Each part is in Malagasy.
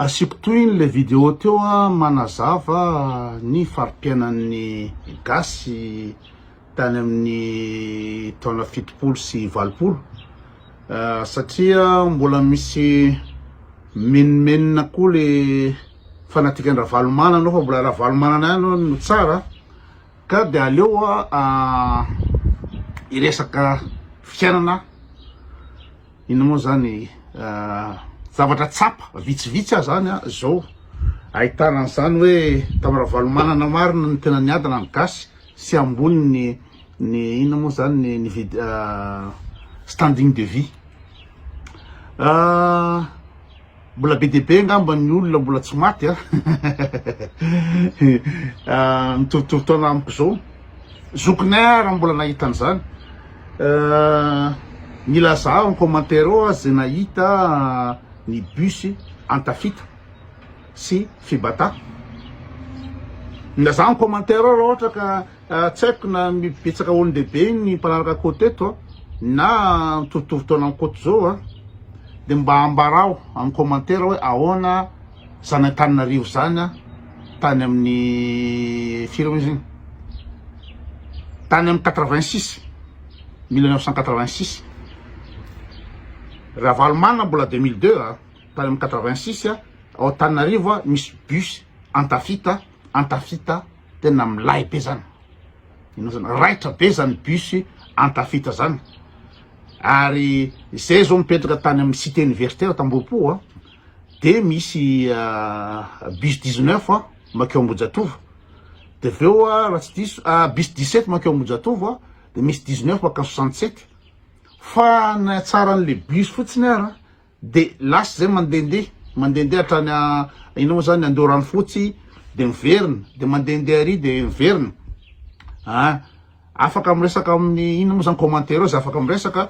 Asiako tohiny le video teo a manazava ny faripiainan'ny gasy tany amin'ny taona fitopolo sy valopolo satria mbola misy menomenona koa le fanatikan ravalomanana fa mbola ravalomanana ihany no tsara ka de aleo a hiresaka fiainana Inona moa zany zavatra tsapa vitsivitsy aza any zao ahitana an'izany hoe tamin'ny Ravalomanana marina ny tena niadana ny gasy sy ambony ny ny inona moa zany ny vid standing de vie Mbola be dia be angamba ny olona mbola tsy maty a! mitorotoro taona amiko izao, zokinay ary mbola nahita an'izany, milaza ao amin'ny commentaire ao aza izay nahita ny bus an-tafita sy fibatà, milaza ao amin'ny commentaire ao raha ohatra ka Tsy haiko na betsaka olon-dehibe ny mpanaraka Koto eto na mitovitovy taona amin'ny Koto izao a, dia mba ambarao amin'ny commentaire hoe ahoana izany Antananarivo izany a, tany amin'ny firy moa izy iny, tany amin'ny quatre vingt six, mille neuf cent quatre vingt six, Ravalomanana mbola deux mille deux a, tany amin'ny quatre vingt six ao Antananarivo a, misy bus an-tafita, an-tafita. Tena milay be zany. Inona zany? Raitra be zany bus Antafita zany. Ary izay zao mipetraka tany amin'ny cité universitaire Tambohopo a, de misy bus 19 a makeo Ambohijatovo. De avy eo raha tsy diso, bus 17 makeo Ambohijatovo a, de misy 19 makany 67. Fa ny hatsaran'le bus fotsiny ara, de lasa zay mandendeha mandendeha hatrany a inona moa zany Andoharanofotsy de miverina de mandendeha ary de miverina a afaka miresaka amin'ny inona moa zany commentaire eo zay afaka miresaka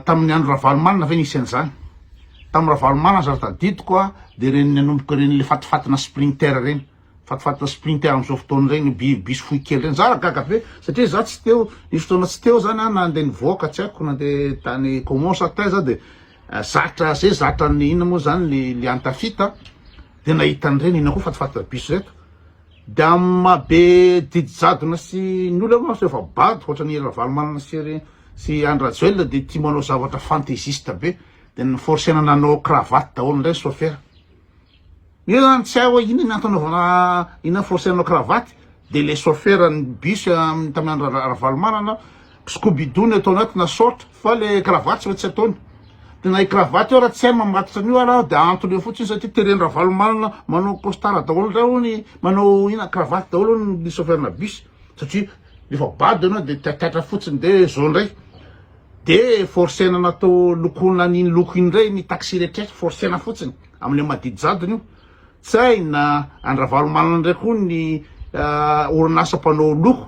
tamin'ny andro Ravalomanana ve nisy an'izany tamin'ny Ravalomanana zany tadidiko a de ireny nanomboka ireny le fatifatina sprinter ireny Fatofatotra sprinter amin'izao fotoana ireny io biby bisy fohy kely ireny. Za ra gaga be satria za tsy teo, nisy fotoana tsy teo zany a nandeha nivoaka tsy haiko nandeha tany Caumont sa taiza aho de zatra zay zatra ny inona moa zany ny liantafita de nahita an'ireny inona koa fatofatotra bisy reto de amin'ny maha be didy jadona sy ny olona moa zany efa bado ohatran'i Hery Ravalomanana sy ry sy Andry Rajoelina de tia manao zavatra fantaisiste be de ny forcena nanao cravate daholo indray ny sôfera. Io zany tsy hay hoe inona ny antony anaovana ina force hanao cravate de le chauffeur ny bus amin'ny tamin'ny andro ra- Ravalomanana scooby-doo no ataony ao tena sort fa le cravate tsy maintsy ataony de na i cravate io raha tsy hay ny mamatotra an'io ary aho de antony eo fotsiny satria teren'i Ravalomanana manao costard daholo indray hono manao ina cravate daholo hono ny chauffeur-na bus satria rehefa bado ianao de taitaitra fotsiny de zao indray de forcer-na natao lokoina an'iny loko iny indray ny taxi rehetra forcer-na fotsiny. amin'ny amadidi jadona io, tsy hay na an-dRavalomanana indray koa ny orinasa mpanao loko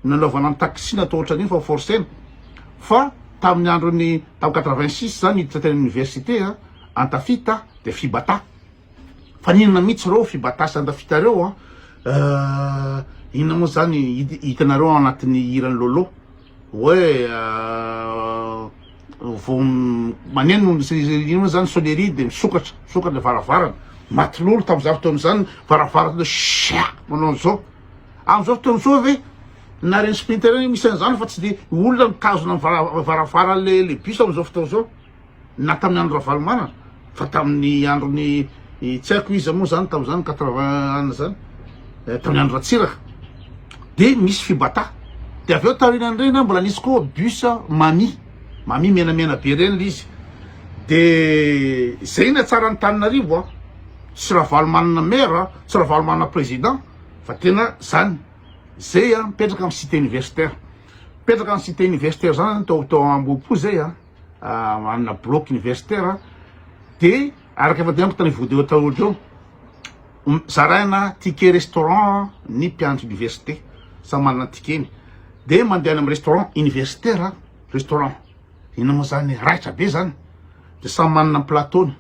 nanaovana ny taxi natao ohatran'iny fa forcena, fa tamin'ny andron'ny tam quatre-vingt-six za niditra teny amin'ny université a, Antafita dia Fibata, fa n'inona mihitsy reo Fibata sy Antafita reo a, inona moa zany hitanareo ao anatin'ny hiran'i Lolo. Hoe vao maneno inona zany sonnerie de misokatra misokatra ny varavarana, maty lolo tam za fotoana zany varavarana hoe sia manao an'zao, am'zao fotoana zao ve naren'i sprinter iny misy an'zany fa tsy de olona mitazona ny varavarana le bus am'zao fotoana zao. na tamin'ny andro Ravalomanana fa tamin'ny androny tsy haiko iza moa zany tamin'izany quatre vingt ans zany eh, tamin'ny andro Ratsiraka dia misy fibata dia avy eo taorian'ireny mbola nisy koa bus mami mami menamena be ireny le izy dia izay ny atsara ny taninarivo a ah. sy Ravalomanana maire ah, sy Ravalomanana président fa tena zany zay a ah, mipetraka amin'ny cité universitaire mipetraka amin'ny cité universitaire zany tao tao Ambohipo zay a manana bloc universitaire dia araka efa dianiko tany video taloha teo zaraina ticket restaurant ny mpiandry université samy manana ticket-ny dia mandeha any amin'ny restaurant universitaire restaurant inona moa zany raitra be zany dia samy manana plateau-ny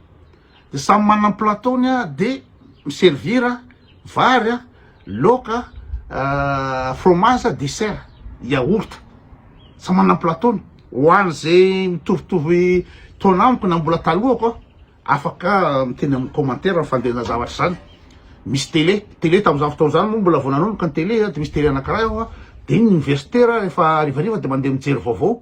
de samy manana ny plateau-ny a, de mi-servir a, vary a, laoka a, fromage a, dessert, yaourt, samy manana ny plateau-ny. Ho an'izay mitovitovy taona amiko na mbola talohako a, afaka miteny amin'ny commentaire ny fandehana zavatra izany. Misy télé, télé tamin'izany fotoana izany moa mbola vao nanomboka ny télé a, de misy télé anakiray ao a, de ny miverster a rehefa harivariva de mandeha mijery vaovao.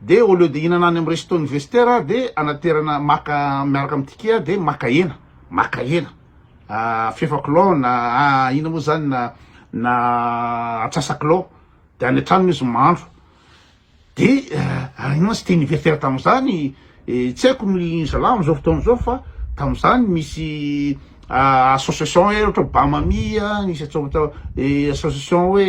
de au lieu de hinana any am resto ny vestiaire a de anaterana maka miaraka am ticket a de maka hena maka hena ah fefakilao na ah ina moa zany na na atsasakilao de any an-tranony izy mahandro de ah ino moa teny vestiaire tam zany tsy haiko ny zalahy am zao fotoana zao fa tam zany misy association hoe ohatra Bamami nisy atao atao association hoe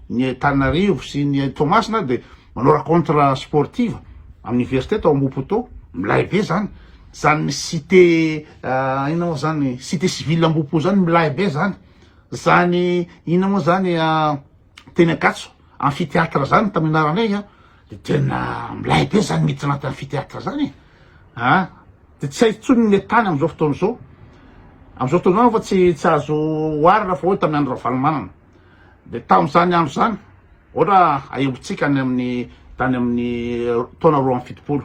ny Antananarivo sy ny Toamasina de manao rencontre sportive amin'ny université tao Ambohipoto milay be zany zany cité inona moa zany cité civile Ambohipo zany milay be zany zany inona moa zany teny Ankatso amphithéâtre zany tamin'ny anaranay a de tena milay be zany miditra anaty amphithéâtre zany e a de tsy hay intsony ny tany amin'izao fotoana izao amin'izao fotoana izao fa tsy tsy azo oharina fa hoe tamin'ny andro Ravalomanana de tamin'izany andro zany ohatra ahembotsika any amin'ny tany amin'ny taona roa amby fitopolo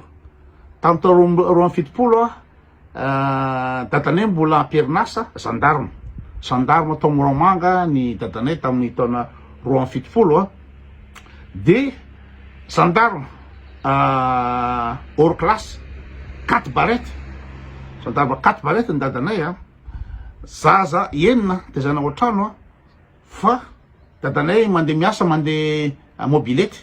tamin'ny taona roa amby fitopolo a Dadanay mbola am-perinasa zandarma. Zandarma tao Moramanga ny dadanay tamin'ny taona roa amby fitopolo a. Dia zandarma hors classe, quatre barrettes, zandarma quatre barrettes ny dadanay a. Zaza enina tezaina ao an-trano a. Fa dadanay mandeha miasa mandeha mobilette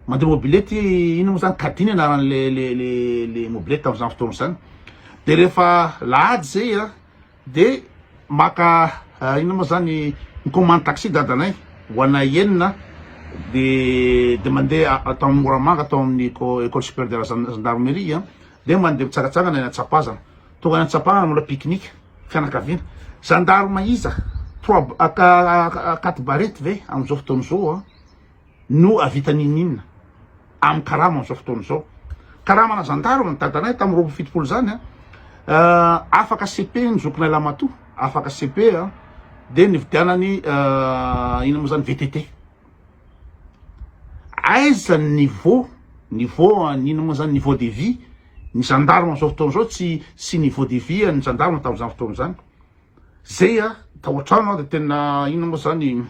mandeha mobilette inona moa zany caddie ny anarany le le le le mobilette tamin'izany fotoana izany de rehefa lahady zay a de maka inona moa zany mi-commande taxi dadanay ho anay enina de de mandeha tao amin'ny Moramanga tao amin'ny éco- école supérieure de la gen- gendarmerie a. Dia mandeha mitsagatsagana eny an-tsapazana. Tonga any an-tsapana nanao la pique-nique fianakaviana. Zandarma iza? Trois quatre barrettes ve amin'izao fotoana izao an? no ahavita n'inon'inona amin'ny karama amin'izao fotoana izao. Karamana zandarma ny dadanay tamin'ny roapolo fitopolo izany an! Afaka cepe ny zokinay lahimatoa, afaka cepe an! dia nividianany inona moa izany? VTT. Aiza ny niveau, niveau an inona moa zany, niveau de vie ny gendarme amzao fotoana zao tsy tsy niveau de vie an'ny gendarme tamzany fotoana zany, zay an tao antrano aho de tena inona moa zany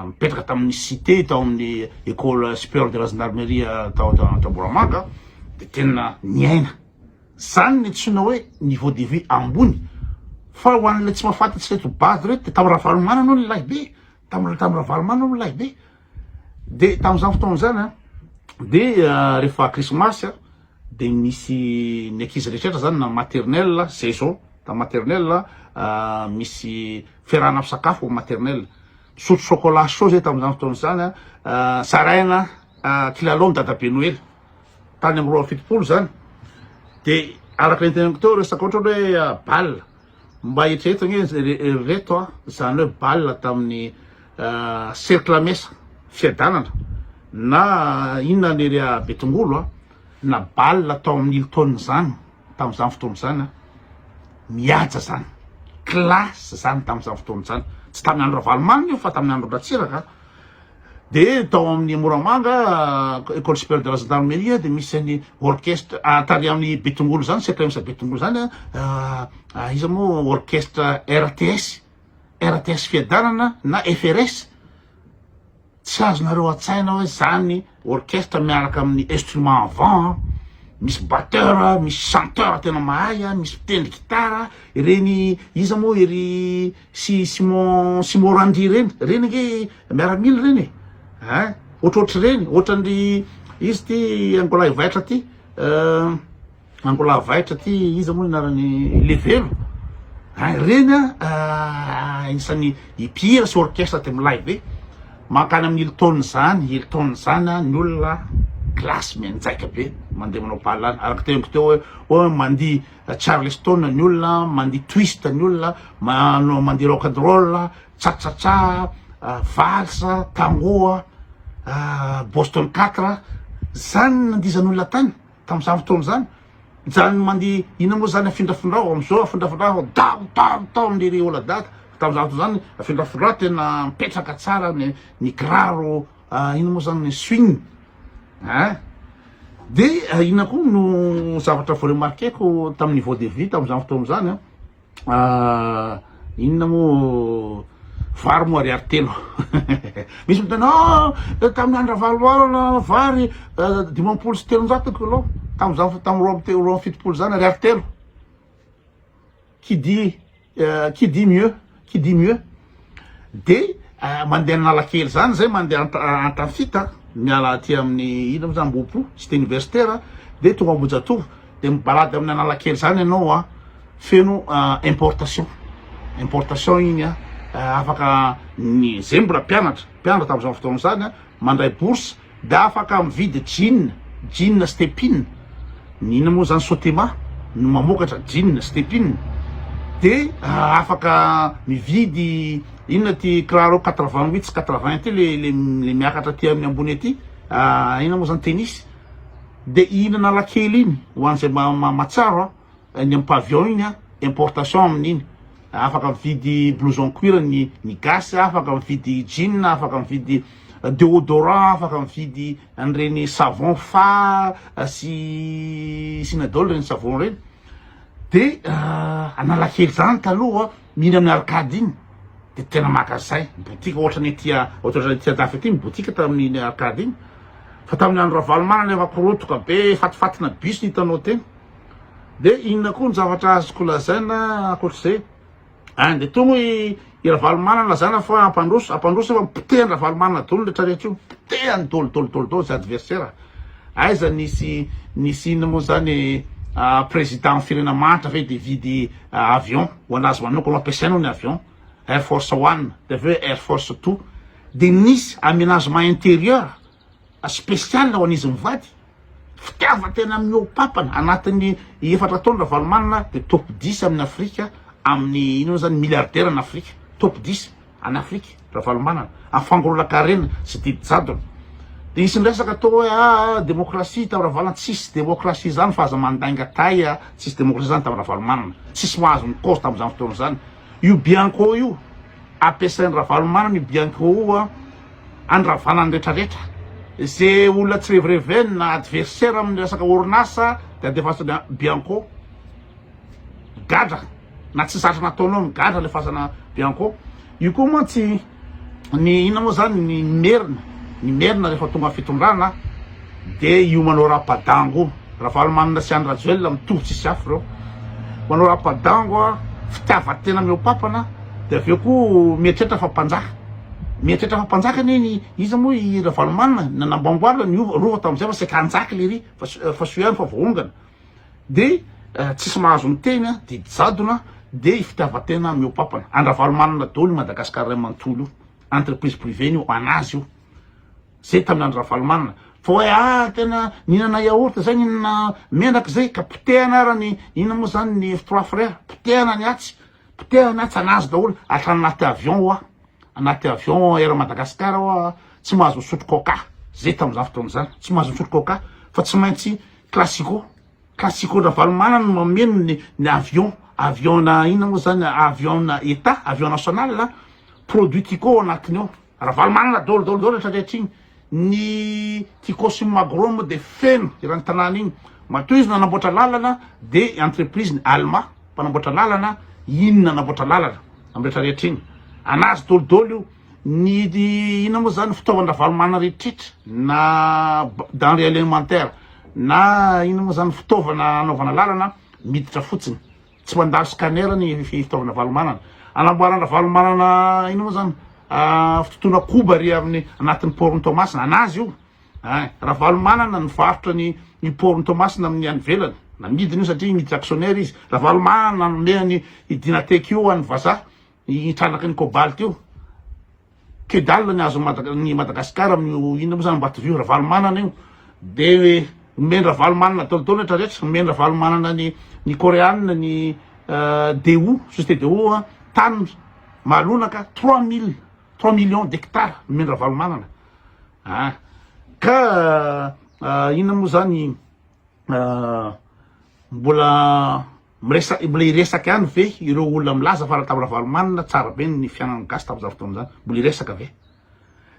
mipetraka tamin'ny cite tao amin'ny ecole superieur de la gendarmerie tao Antanboramanga an de tena niaina zany ny antsoina hoe niveau de vie ambony fa ho an'ilay tsy mahafantatry ireto bado ireto de tao Ravalomanana hono ny lahibe. Tamin'ny tamin'ny Ravalomanana hono lahy be. Dia tamin'izany fotoana izany a, dia rehefa krismasy a, dia misy ny ankizy rehetra izany na maternelle, izay izao, tamin'ny maternelle misy fiarahana misakafo amin'ny maternelle. Misotro chocolat chaud izay tamin'izany fotoana izany a, zaraina kilalao ny dadabe noely. Tany amin'ny roa amby fitopolo izany. Dia araka ny teneniko teo resaka ohatra hoe bal. Mba eritrereto anie ry reto a, zany hoe balle tamin'ny cercle mesa fiadanana na inona ny area Betongolo a, na balle tao amin'ny Hilton zany tamin'izany fotoana izany a, mihaja zany, classe zany tamin'izany fotoana izany, tsy tamin'ny andro Ravalomanana io fa tamin'ny andro Ratsiraka. Dia tao amin'ny Moramanga, Ecole Supérieure de la Gendarmerie, dia misy an'i orchestre, ah, tarihan'ny Betongolo izany, CPMS Betongolo izany, ah, ah, iza moa orchestre RTS, RTS Fiadanana na FRS. Tsy azonareo an-tsaina hoe izany Orchestre miaraka amin'ny instrument à vent an, misy batteur, misy chanteur tena mahay an, misy mpitendry gitara, ireny iza moa ery si Simon Simon Randy ireny, ireny ange miaramila ireny e ein, ohatrohatr'ireny, ohatran'ny iza ity angola ivaitra ity? Angolavaitra ty iza moa anarany levelo ah ireny ah isany mpihira sy orchestre aty amin'ny live eh mankany amin'ny Hilton zany Hilton zany ah ny olona classe mianjaika be mandeha manao pahalana araka ny teniko teo hoe mandihy charleston ny olona mandihy twist ny olona manao mandihy rock and roll ah tchatchatcha ah vals ah tango ah boston quatre ah zany no nandihizan'olona tany Tamin'izany fotoana izany, nijanon'i Mandy ina moa izany afindrafindra aho, amin'izao afindrafindra aho, daro daro tao ny ry Oladaka, tamin'izany fotoana izany afindrafindra aho tena mipetraka tsara ny ny kiraro ina moa izany ny swing eh. Dia ina koa no zavatra voaremarqueko tamin'ny niveau de vie tamin'izany fotoana izany an. inona moa vary moa ariary telo misy miteny a tamin'ny andro ravaloala vary dimampolo sy telonjato kilao tamin'izany tamin'ny roa amby roa amby fitopolo izany ariary telo qui dit qui dit mieux qui dit mieux dia mandeha analakely zany zay mandeha antafita miala aty amin'ny ina moa zany ambohipo cité universitaire dia tonga ambohijatovo dia mibalady amin'ny analakely zany ianao a feno importation importation iny a afaka ny zay mbola mpianatra mpianatra tamin'izany fotoana izany a mandray bourse Dia afaka mividy jean, jean stepin, ny inona moa zany sotema no mamokatra jean stepin, de afaka mividy inona ity kiraro quatre vingt huit sy quatre vingt ity le le miakatra aty amin'ny ambony aty inona moa zany tennis, de hihinana lakely iny ho an'izay mahatsara an. Any am pavillon iny an, importation amin'iny, afaka mividy blouson cuir ny ny gasy, afaka mividy jean, afaka mividy deodorant, afaka mividy an'ireny savon fa sy synadol ireny savon ireny, de analakely zany taloha mila amin'ny arcade iny de tena maka zay ny boutique ohatra ny aty ohatrany aty andafy aty ny boutique tamin'iny arcade iny fa tamin'ny andro ravalomanana efa korotoka be fatifatina bus ny hitanao teny. De inona koa ny zavatra azoko lazaina ankoatr'izay? Any de tony hoy i Ravalomanana lazana fa hampandroso, hampandroso nefa potehan'i Ravalomanana dolo ny rehetra rehetra io, potehany dolo dolo dolo dolo zay adversaire, aiza nisy nisy inona moa zany président amin'ny firenena mahantra ve de hividy avion ho anazy manokana, ampiasainy hono ny avion, air force one de avy eo air force two, de nisy amenagement intérieur spécial ho an'izy mivady, fitiavan-tena amin'ny hopapana anatin'ny efatra taona Ravalomanana dia top dix amin'ny Afrika amin'ny inona moa izany milliardaire an'i Afrika, top dix any Afrika Ravalomanana amin'ny fangolonan-karena sy didy jadona dia hisy miresaka atao hoe aa démocratie tamin'i Ravalomanana, tsisy démocratie izany fa aza mandainga tay a, tsisy démocratie izany tamin'i Ravalomanana, tsisy mahazo ny kaozy tamin'izany fotoana izany. Io Bianco io, ampiasain'i Ravalomanana io Bianco io handravana ny retraretra. Ze olona tsy revireveny na adversaire amin'ny resaka orinasa de andefasany Bianco. Gadra na tsy zatra nataonao migadra alefasana Bianco. Io koa mantsy. Ny inona moa zany ny merina? Ny merina rehefa tonga ny fitondrana de io manao rapadango ravalomanana sy andry rajoelina mitovy tsisy afo reo manao rapadango a fitiavatena mihoapapana de aveo ko mieritreritra fa mpanjaka mieritreritra fa mpanjaka anie ny iza moa i ravalomanana nanamboamboarina ny rova tamzay fa saika hanjaka lery fa soa ihany fa voaongana de tsisy mahazo miteny a, didy jadona de fitiavatena miopapana, an-dRavalomanana daholo io Madagascar ray manontolo io, entreprise privée-ny io, an'azy io, zay tamin'ny andro Ravalomanana, fa hoe ah tena nihinana yaourt zay, nihinana menaka zay, ka potehana ara ny inona moa zany ny trois frères, potehana ny atsy, potehana ny atsy, an'azy daholo, atrany anaty avion hoa. anaty avion air Madagascar aho ah, tsy mahazo misotro coca, zay tamin'izany fotoana izany, tsy mahazo misotro coca fa tsy maintsy classico, classico Ravalomanana no mameno ny ny avion, avion na inona moa zany, avion na etat, avion national ah, produit tico ao anatiny ao, Ravalomanana daholo daholo daholo retraretra iny. Ny Tikosim Magro moa dia feno irany tanàna iny. Matoa izy nanamboatra lalana dia entreprise ny Alma mpanamboatra lalana iny nanamboatra lalana am rehetra rehetra iny. Anazy dolo dolo io. Ny inona moa zany fitaovan Ravalomanana rehetrretra na denree alimentaire na inona moa zany fitaovana anaovana lalana miditra fotsiny Tsy mandalo scanner ny fitaovana valomanana. Anamboaran dravalomanana inona moa zany fitotoana koba ry amin'ny anatin'ny port ny Toamasina. Anazy io ein. Ravalomanana nivarotra ny ny port ny Toamasina amin'ny any ivelany. Namidiny io satria miditra actionnaire izy. Ravalomanana nanome an'i Dynatech io ho an'ny vazaha. Io trandraky ny cobalt io. Que dalle ny azon'i Mada- ny Madagascar amin'io inona moa zany Ambatovio, Ravalomanana io. De omen-dRavalomanana daholo daholo rehetra rehetra, omen-dRavalomanana ny ny Koreana, ny eh, Daewoo, société Daewoo an, tany Mahalonaka trois mille, trois millions d'hectares omen-dRavalomanana. Ah. Ka ah, inona moa zany ah, mbola Miresak mbola hiresaka ihany ve ireo olona milaza fa Ratam Ravalomanana tsara be ny fiainan'ny gasy tamin'izany fotoana izany? Mbola hiresaka ve?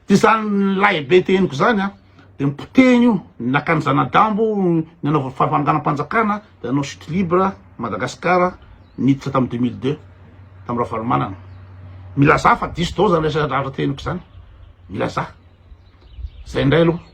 Dia izany lahibe te henoko izany an, dia ny potehiny io, ny nakan'ny zana-dambo, ny nanaovany fananganam-panjakana, dia nanao chute libre Madagascar niditra tamin'ny deux mille deux tamin'i Ravalomanana. Milazà fa diso daholo izany resaka zavatra te henoko izany, milazà. Izay indray aloha.